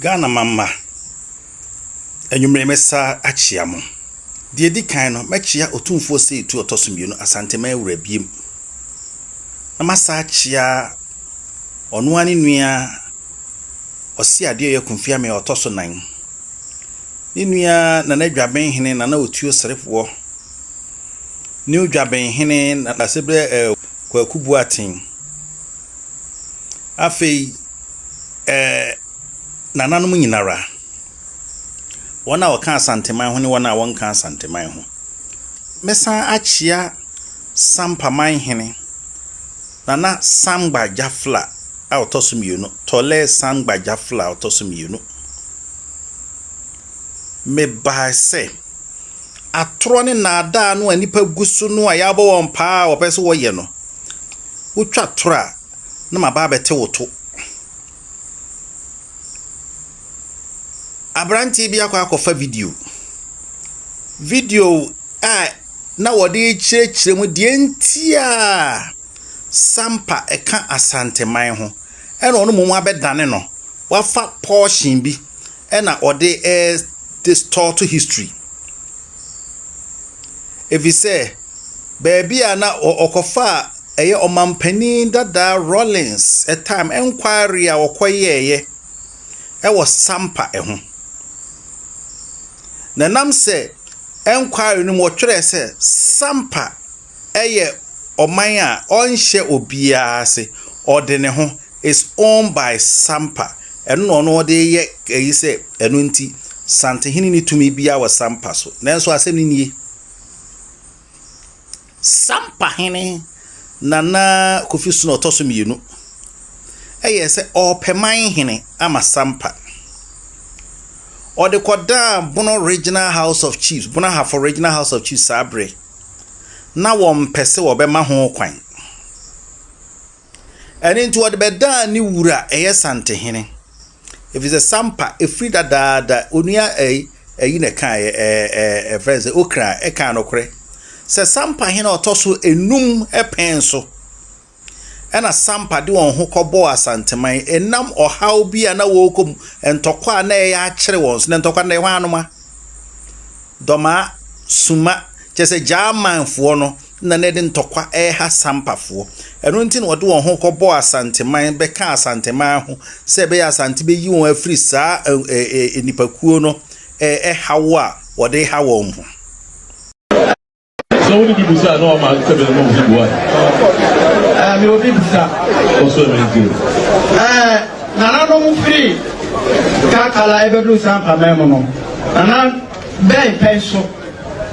Ghana mama, anwumerɛ mɛsa akyea mo. Deɛ ɛdi kan no, mɛkyea Otumfoɔ Seitu Ɔtɔso Mmienu Asanteman Wura biom, na masa akyea ɔno ara ne nua Ɔse Adeɔyɛ Kunfiame a ɔtɔ so nan, ne nua Nana Dwabenhene Nana Otuo Serefoɔ, New Dwabenhene Nanaseberɛ eh, Kwaku Boateng. Afei eh, nananom nyinara, wɔn a wɔka Asanteman ho ne wɔn a wɔnka Asanteman ho. Mɛsan akyea Sampaman hene, Nana Sam Gbajafla a ɔtɔ so mmienu, Tɔlɛɛ Sam Gbajafla a ɔtɔ so mmienu. Mebae sɛ. atorɔ ne nnaadaa no a nnipa gu so no a yɛabɔ wɔn paa a wɔpɛ sɛ wɔyɛ no, wotwa torɔ a, na maba abɛte wo to. Aberanteɛ bi akɔ akɔfa video. Video a na wɔde rekyerɛkyerɛ mu deɛ nti a Sampa ka Asanteman ho. ɛna ɔno mmom abɛdane no, wafa portion bi ɛna ɔde distort history. Efisɛ baabi a na ɔkɔfa a ɛyɛ ɔmanpanin dadaa Rawlings time inquiry a wɔkɔyɛeɛ ɛwɔ Sampa ɛho. Na ɛnam sɛ inquiry no mu wɔtwerɛɛ sɛ Sampa yɛ ɔman a ɔnhyɛ obiara ase, ɔde ne ho, is owned by Sampa, ɛno na ɔno ɔde yɛ ayi sɛ ɛno nti Santehene nni tumi biara wɔ Sampa so. Nanso asɛm no nie, Sampahene Nana Kofi Sono ɔtɔ so mmienu yɛɛ sɛ ɔrepɛ man hene ama Sampa. Ɔde kɔdaa Bono Regional House of Chiefs, Bono Ahafo Regional House of Chiefs saa bere. na wɔmpɛ sɛ wɔbɛma ho kwan. Ɛno nti wɔde bɛdaa ne wura a ɛyɛ Santehene, ɛfiri sɛ Sampa ɛfiri dadaada onua ɛyi ɛyi na ɛkaeɛ ɛɛ ɛɛ ɛfrɛ sɛ Okra ɛkaa nokorɛ sɛ Sampahene a ɔtɔ so enum pɛn so. ɛna Sampa de wɔn ho kɔbɔɔ Asanteman ɛnam ɔhaw bi a na wɔrekɔ mu, ntɔkwa a na ɛyɛ akyere wɔn so, na ntɔkwa na ɛhɔ anoma, dɔmaa, suma, kyerɛ sɛ Gyamanfoɔ no na na ɛde ntɔkwa ɛreha Sampafoɔ. Ɛno nti na wɔde wɔn ho kɔbɔɔ Asanteman bɛka Asanteman ho sɛ ɛbɛyɛ Asante bɛyi wɔn afiri saa nnipakuo no ɛhaw a wɔde ha wɔn ho. Sɛ wode bi bisa a na wama sɛ bɛn na obi bua. Ɛɛ me obi bisa. Ɔsɔ ɛmɛ nti. Ɛɛ nananom firi kakala ɛbɛduru saa mpamɛn mu no nana bɛn pɛn so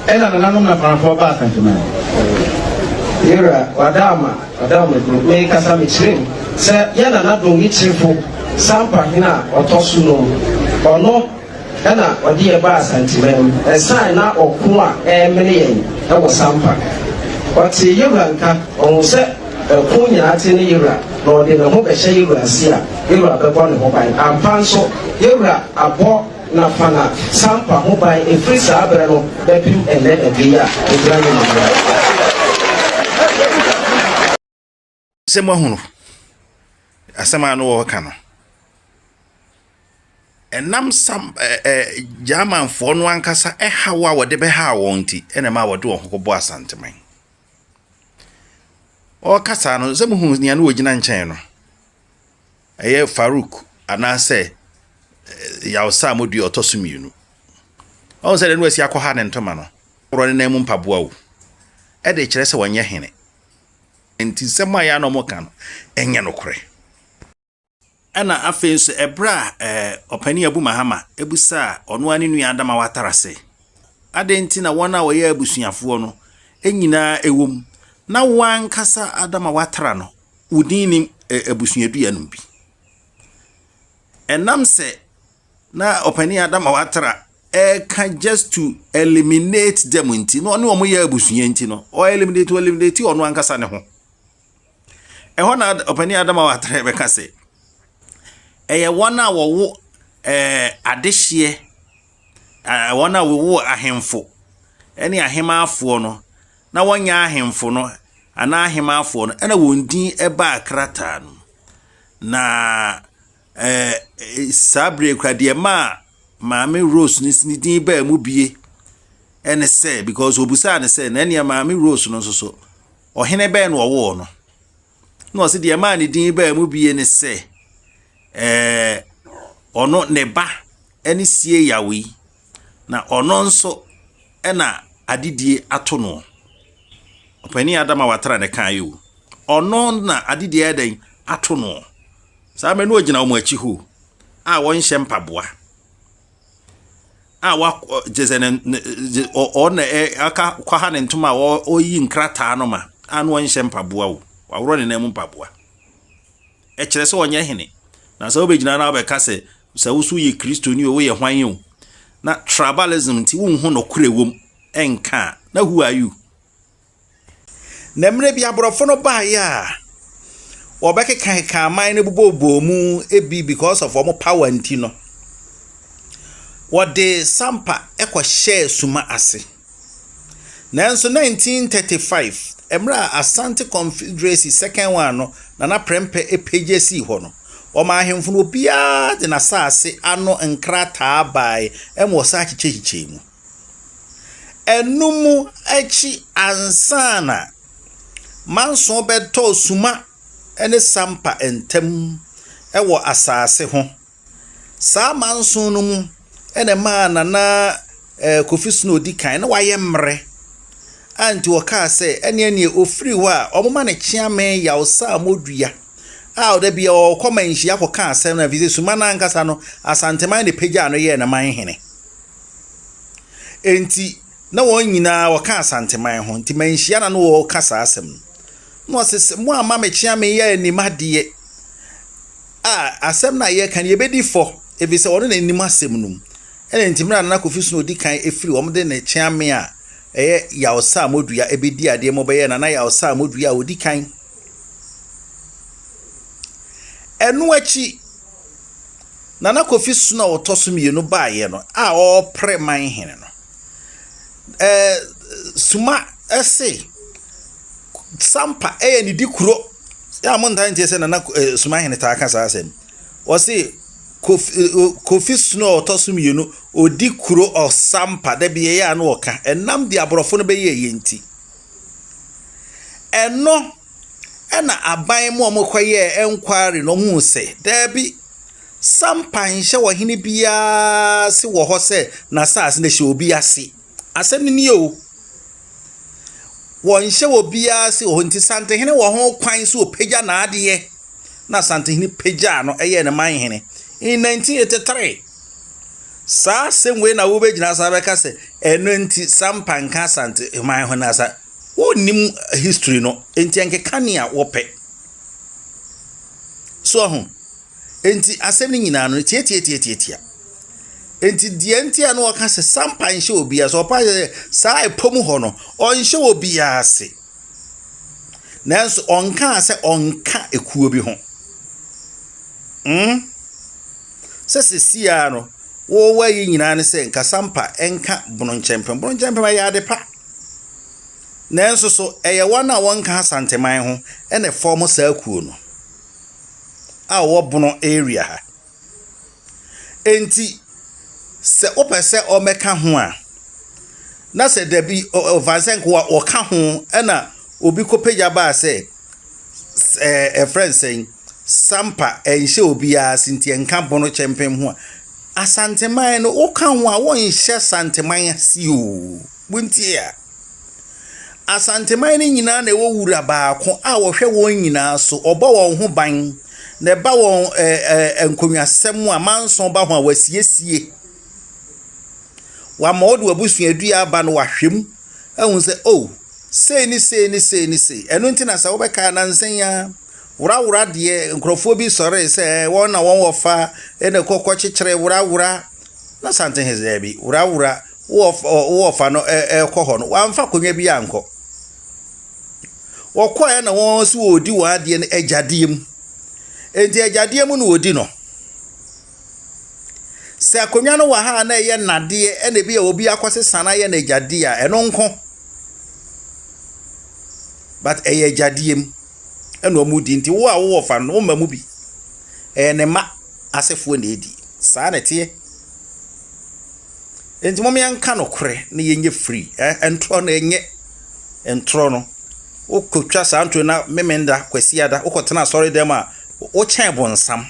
ɛna nananom na fanafoɔ ba asantuma. Yɛwura wada ama wada ama duro me kasa me kyerɛ mu sɛ yɛ nana dɔn yi kyerefo sampa hena ɔtɔ so nom ɔno. Ɛna ɔde yɛn baa Santima mu ɛsan na ɔko a ɛremene yɛn wɔ Sampa. Ɔtee Yewura nka, ɔhuu sɛ ɛko nyinaa te ne Yewura na ɔde ne ho bɛhyɛ Yewura ase a, Yewura bɛbɔ ne ho ban. Ampa nso, Yewura abɔ Nafana Sampa ho ban ɛfiri saa berɛ no bɛpem ɛnnɛ da bi yi a ɛgyina anim no. Sɛ moahunu asɛm a na wɔreka no, ɛnam sam ɛ ɛ Germanfoɔ no ankasa haw a wɔde bɛhaa wɔn nti na ɛma wɔde wɔn ho kɔbɔ Asanteman. Ɔreka saa no, sɛ mohunu nea na wɔgyina nkyɛn no, ɛyɛ Farouk anaasɛ Yawsa a modua ɔtɔ so mmienu. Ɔhu sɛ deɛ na wasi akɔha ne ntoma no, worɔ ne nan mu mpaboa o, ɛde kyerɛ sɛ wɔnyɛ hene. Enti nsɛm a ɛyɛ a na wɔka no nyɛ nokorɛ. Ɛna afei nso ɛberɛ a ɛɛ ɔpanin Abu Mahama bisaa ɔno ara ne nua Adama Watara sɛ, adɛn nti na wɔn a wɔyɛ abusuafoɔ no nyinaa wɔ mu na wo ankasa Adama Watara no wo din nnim abusuadua no mu bi? Ɛnam sɛ na ɔpanin Adam a watra ɛka just to eliminate them nti na ɔne wɔn yɛ abusua nti no ɔ eliminate ɔ eliminate ɔno ankasa ne ho ɛhɔ na ɔpanin Adam a watra ɛbɛka sɛ ɛyɛ wɔn a wɔwo ɛɛ adehyeɛ ɛɛ wɔn a wɔwo ahemfo ɛne ahemaafoɔ no na wɔnyɛ ahemfo no anaa ahemaafoɔ no ɛna wɔn din ɛbaa krataa no na. Ɛɛ, saa bere yi kura deɛ maa maame Rose ne ne din baa mu bie ne sɛ because obusaa no sɛ na nea maame Rose no nso so ɔhene bɛn na ɔwoo no na ɔsi deɛ maa ne din baa mu bie ne sɛ ɛɛ ɔno ne ba ne sie yawo yi na ɔno nso ɛna adedie ato no ɔpanin adama watara ne kan yi o ɔno na adedie ɛdɛn ato no. Saa mmerɛ no ɔgyina wɔn akyi hoo a wɔnhyɛ mpaboa a wakɔ gye sɛ ne ne gye ɔn na ɛ aka kwaha ne ntoma a ɔyi nkrataa no ma a no ɔnhyɛ mpaboa o waworɔ ne nan mu mpaboa ɛkyerɛ sɛ ɔnyɛ hene na sɛ wobɛgyina na wobɛka sɛ sɛ wo so yɛ kristoni o woyɛ hwan o na tribalism nti wonhu nokorɛ wom ɛnka a na who are you Na mmerɛ bi aborɔfo no baeɛ a, wɔbɛkekakeka aman no bobɔbobɔɔ mu ebi because of wɔn power nti no, wɔde sampa kɔhyɛɛ suma ase. Nanso 1935, mmerɛ a Asante Confederacy second one no, Nana Prɛmpɛ pagya sii hɔ no, wɔmaa ahemfo no obiara de n'asaase ano nkrataa baeɛ ma wɔsan kyekyɛkyekyɛɛ mu. Ɛnum akyi ansa na Manson bɛtɔɔ Suma ne Sampa ntam wɔ asase ho. Saa Manson no mu na ɛmaa Nana eh, Kofi Sino a ɔdi kan na wayɛ mmerɛ a nti wɔkaa sɛ ɛneɛ neɛ ɔfiri hɔ a wɔma no kyeame Yawsamodua a ɔda bia ɔkɔ manhyia kɔka asɛm no ɛfiri sɛ Suma no ankasa no Asanteman na ɛpagyaa no yɛɛ ne man hene. Enti na wɔn nyinaa wɔka Asanteman ho, nti manhyia na na wɔreka saa asɛm no. Na ɔse sɛ mo amma mekyea me yɛ anim adeɛ a asɛm no a yɛreka no yɛbɛdi fɔ, ɛfiri sɛ ɔno na anim asɛm no mu. Ɛna nti mmerɛ a Nana Kofi Sunu ɔdi kan ɛfiri wɔn de ne kyea me a ɛyɛ Yaw Sir Modua ɛbɛdi adeɛ ma ɔbɛyɛ Nana Yaw Sir Modua a ɔdi kan. Ɛno akyi Nana Kofi Sono a ɔtɔ so mmienu baeɛ no a ɔrepre man hene no, eh, Suma se Sampa yɛ ne di kuro. Yɛ a montaa ntie sɛ Nana eh, Suma hene taa ka saa asɛm. Ɔse Kofi, eh, Kofi Sono a ɔtɔ so mmienu, ɔdi kuro ɔsampa. Da bi yɛyɛ a na ɔka ɛnam de aborɔfo no bɛyɛ yɛ nti. Ɛno Ɛna aban mu a wɔkɔyɛɛ enquiry no wɔhuu sɛ daabi, sampa nhyɛ ɔhene biara ase wɔ hɔ sɛ n'asase no hyɛ obi ase. Asɛm no nie o. Wɔnhyɛ obiara ase wɔ hɔ nti Asantehene wɔ ho kwan sɛ ɔpagya n'adeɛ. Na Asantehene pagyaa no yɛɛ no manhene in 1983. Saa asɛm wei na wobɛgyina so abɛka sɛ ɛno nti sampa nka Asante man ho na asa. Wonnim history no nti ɛnkeka nea wɔpɛ. So ahu? Nti asɛm no nyinaa no tiatiatiatiatia. Nti deɛ nti a na wɔka sɛ sampa nhyɛ obi ase ɔpa sɛ saa ɛpɔ mu hɔ no ɔnhyɛ obi ase. Nanso ɔnkaa sɛ ɔnka ekuo bi ho. Mm? Sɛ sesia no wɔwɔ yi nyinaa ne sɛ nka sampa ɛnka bononkyɛmpem. Bononkyɛmpem ɛyɛ ade pa. Nanso so ɛyɛ wɔn a wɔnka Asanteman ho na ɛfɔɔmo saa kuo no a wɔwɔ Bono area ha? Enti sɛ wopɛ sɛ wɔbɛka ho a, na sɛ dabi ɔfa sɛ nka wɔka ho na obi kɔpagya baa sɛ sɛ ɛɛ ɛfrɛ no sɛn. Sampa, ɛnhyɛ obiara ase nti ɛnka Bono Kyɛmpem ho a, Asanteman no woka ho a wonhyɛ Santeman ase o. Montie a. Asanteman no nyinaa na ɛwɔ wura baako a ɔhwɛ wɔn nyinaa so, ɔbɔ wɔn ho ban, na ɛba wɔn ɛ ɛ nkonnwasɛm a manson ba ho a wasiesie. Wama ɔde w'abusuadua aba no wahwɛ mu ahu sɛ o, oh, sei ne sei ne sei ne sei. Ɛno nti na sɛ wobɛka nansa yi ara Worawora deɛ nkurɔfoɔ bi sɔree sɛ wɔn na wɔn wɔ fa na ɛkɔ kɔkyekyere worawora na Asante he sɛ daabi worawora wɔ fa no ɛkɔ hɔ no wɔamfa akonnwa bi ankɔ wɔkɔɛ na wɔn nso wɔredi wɔn adeɛ no agyadeɛ mu enti agyadeɛ mu na wɔdi no Sɛ akonnwa no wɔ ha a na ɛyɛ nnadeɛ ɛna ebi a obi akɔsesa no ayɛ no agyadeɛ a, ɛno nko. But ɛyɛ agyadeɛ mu ɛna wɔredi nti wo a wowɔ fa no wo mma mu bi. Ɛyɛ ne mma asefoɔ na ɛredi. Saa na ɛteɛ. Nti mom yɛnka nokorɛ na yɛnyɛ free. Ntorɔ no ɛnyɛ ntorɔ no. Wokɔtwa saa ntorɔ na Memenda, Kwasiada wokɔtena asɔre dɛm a wokyɛn bonsam.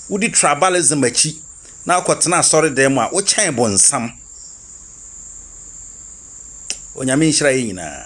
wodi tribalism akyi na wokɔtena asɔredan mu a, wokyɛn bonsam. Onyame nhyira yɛn nyinaa.